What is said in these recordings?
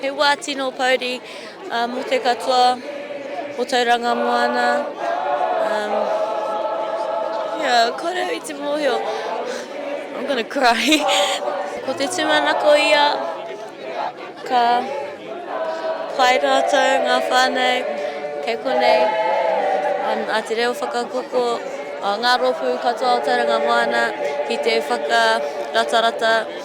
He wā tino pouri mō te katoa o Tauranga Moana. Kōrero i te mōhio. I'm gonna cry. Ko te tūmanako ia, ka pai rātou ngā whānau kei konei, a Te Reo Whakakoko, ngā rōpū katoa o Tauranga Moana ki te whakaratarata.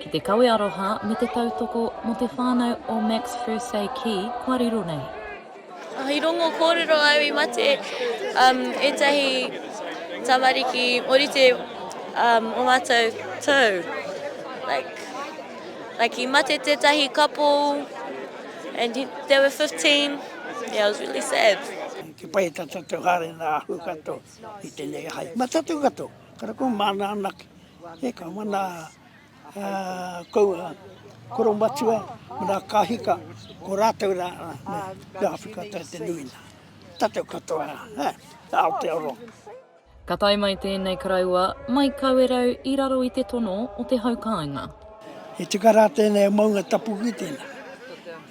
Ki te kawe aroha me te tautoko mo te whanau o Max Fursey ki kua riro nei. I rongo kōrero au i mate um, ētahi tamariki orite um, o mātou tau. Like, like i mate tētahi couple and he, they were 15. Yeah, it was really sad. Ki pai tata te hare na ahu kato i tenei hai. Ma tatu kato, kara ko mana anaki. He ka mana kou a koromatua me nā kāhika, ko rātou rā me Āwhika Tau te nui nā. Tātou katoa rā, ā, ā Aotearoa. Ka tae mai tēnei karaua, mai Kawerau i raro i te tono o te hau kāinga. He tika rā tēnei a Maunga Tapu ki tēnā.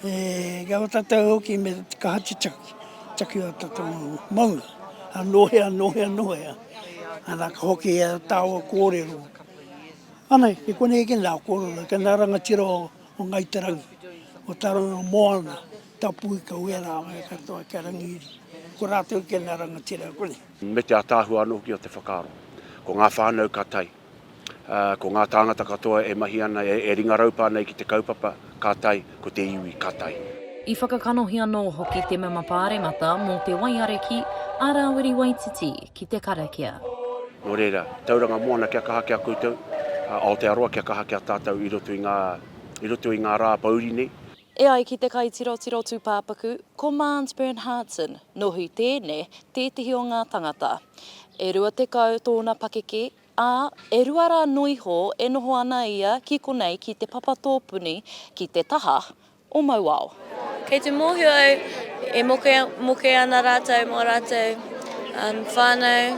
E ngā o tātou hoki me te kaha te taki, taki o tātou maunga. Anō hea, anō hea, anō hea. Ana ka hoki e taua kōrero. Anei, i konei ke nā kōrero, ke nā rangatira o Ngai Te Rangi, o Taronga Moana, Tapu Ika Wea rāua katoa kia Rangiiri. Ko rātou ke nā rangatira konei. Me te ataahua anō hoki o te whakaaro. Ko ngā whānau ka tae. Ā, ko ngā tāngata katoa e mahi ana, e, e ringaraupā nei ki te kaupapa, ka tae, ko te iwi, ka tae. I whakakanohi anō hoki te mema Pāremata mō te waiare ki a Rāwiri Waititi ki te karakia. Nō reira, Tauranga Moana kia kaha ki a koutou, ā, Aotearoa kia kaha ki a tātou i roto i ngā, i roto i ngā rā pouri nei. E ai ki te kaitirotiro tūpāpaku, ko Mans Bernhardsen, nō Huitēne, tētehi o ngā tangata. E rua tekau tōna pakeke, ā, e rua rā noa iho e noho ana ia ki konei ki Te Papa Tōpuni ki te taha o Mauao. Kei te mōhio au e mokemoke ana rātou mō rātou whānau.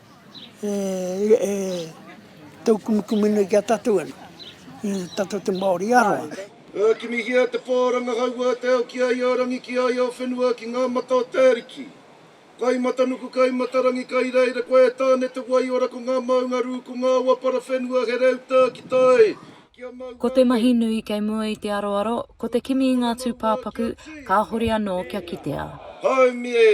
E tau kumikumu nei ki a tatou ano, i tatou te Maori aroha. E kimihia te pā rangahaua a te ao ki a ia rangi, ki a ia whenua, ki ngā mata o te Ariki. Kai matanuku, kai matarangi, kai reira koe e Tāne te wai ora ko ngā maunga rū, ko ngā awa para whenua he reu tā ki tā e, ki a māua Ko te mahi nui kei mua i te aroaro, ko te kimi i ngā tūpāpaku, kāhore anō kia kitea. Haumi e!